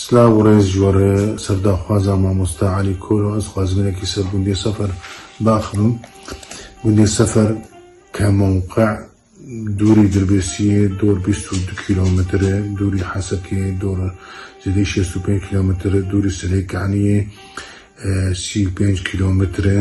Silav û rêz ji we re serdaxwaza mamosta Elî Kolo ez xwazim hinekî ser gundê Sefer biaxivim. Gundê Sefer ke mewqe dûrî Dirbêsiyê dor bîst û du kîlometr e, dûrî Hesekê dor zêdeyî şêst û pênc kîlometr e, dûrî Silêkaniyê sî û pênc kîlometr e.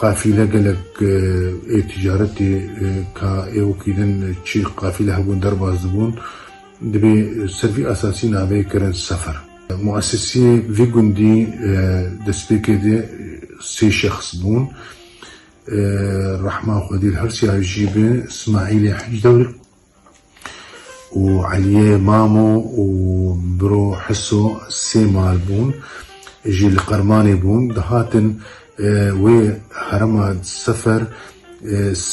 Qafîle gelek ê ticaretê ka ê wekî din çi qafîle hebûn derbas dibûn, dibê ser vî esasî navê kirin sefer. Muesesîyê vî gundî destpêkê de sê şexs bûn, Rehman Xwedîl Hirsiyar jî bi Smaîlê Hicdewr û Eliyê Mamo û biro Hiso sê mal bûn jî li Qirmanê bûn, dihatin wê herema Sefer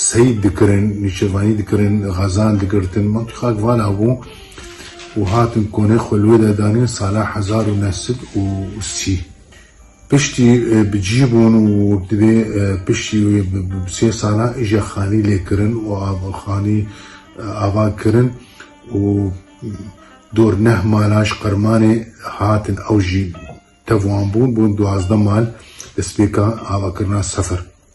seyîd dikirin, nîçevanî dikirin, xezan digirtin, wekî xak vala bû û hatin konê xwe li wê de danîn sala hezar û neh sed û sî. Piştî bi cî bûn û divê piştî wê bi sê salan îşa xanî lê kirin û xanî ava kirin û dor neh malan ji qirmanê hatin ew jî tev wan bûn, bûn duwazdeh mal, destpêka avakirina sifir.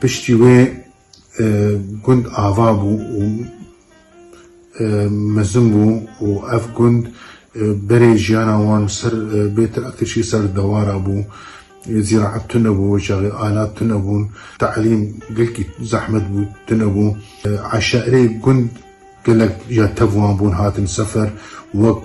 Piştî wê gund ava bû û mezin bû û ev gund berê jiyana wan ser bê traktirçî ser dewara bû. Zîraet tune bû wê çaxê, alat tune bûn, teelîm gelkî zehmet bû tune bû. Eşarê gund gelek ya tev wan bûn hatin sefer wek.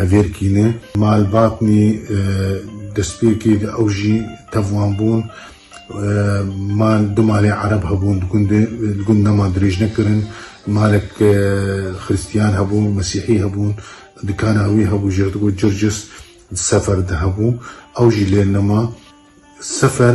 Hevêrkînê, malbatnî destpêkê di ew jî tev wan bûn. Mal du malê Ereb hebûn di gundê. Di gund nema dirêj nekirin. Malek Xirîstiyan hebû, Mesîhî hebûn. Dikana wî hebû ji dikû Circis di Sefer de hebû. Ew jî lê nema. Sefer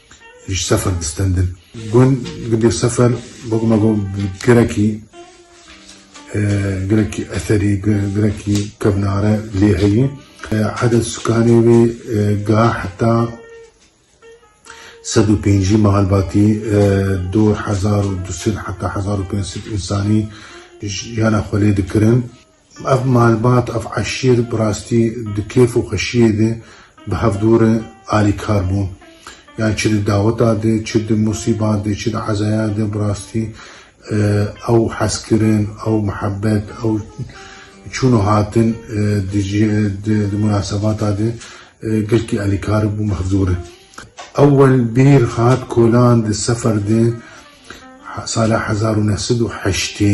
Ji sefer distendin. Gund gundê sefer wek me got girekî girekî eserî girekî kevnare lê heye. Eded sukanê wê ga heta sed û pêncî malbatî du hezar û du sed heta hezar û pênc sed însanî jiyana xwe lê dikirin. Ev malbat, ev eşîr bi rastî di kêf û xweşiyê de bi hev dû re alîkar bûn. Yan çi di daweta de, çi di musîba de, çi di ezaya de bi rastî ew hezkirin, ew mihebet, ew çûn û hatin di di munasebata de gelkî alîkar bû bi hev dû re. Ewwel bîr hat Kolan di sefer de sala hezar û neh sed û heştê.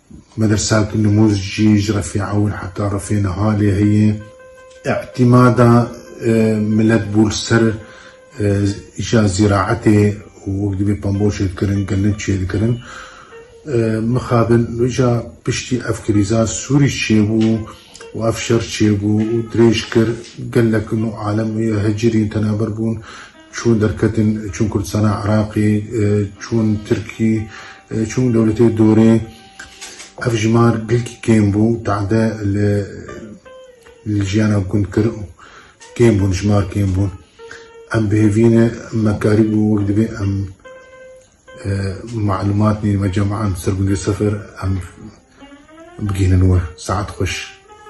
Medrsa ku nimûz jî ji refê ewil heta refê niha lê heye, îtîmada milet bû li ser îşa zîraetê û wek dibê pambo çêdikirin, gelin çêdikirin. Mixabin îşa piştî ev krîza Sûrî çêbû û ev şer çêbû û dirêj kir, gelek nû alem hicirîn tenaber bûn. Çûn derketin, çûn Kurdistana Iraqê, çûn Tirkî, çûn dewletê dorê. Ev jimar gilkî kêm bû, te'de li li jiyana gund kir û kêm bûn, jimar kêm bûn. Em bi hêvî ne me karî bû wek divê em malûmat nê me cem an ser gundê Sefer em bigihînin we. Saet xweş.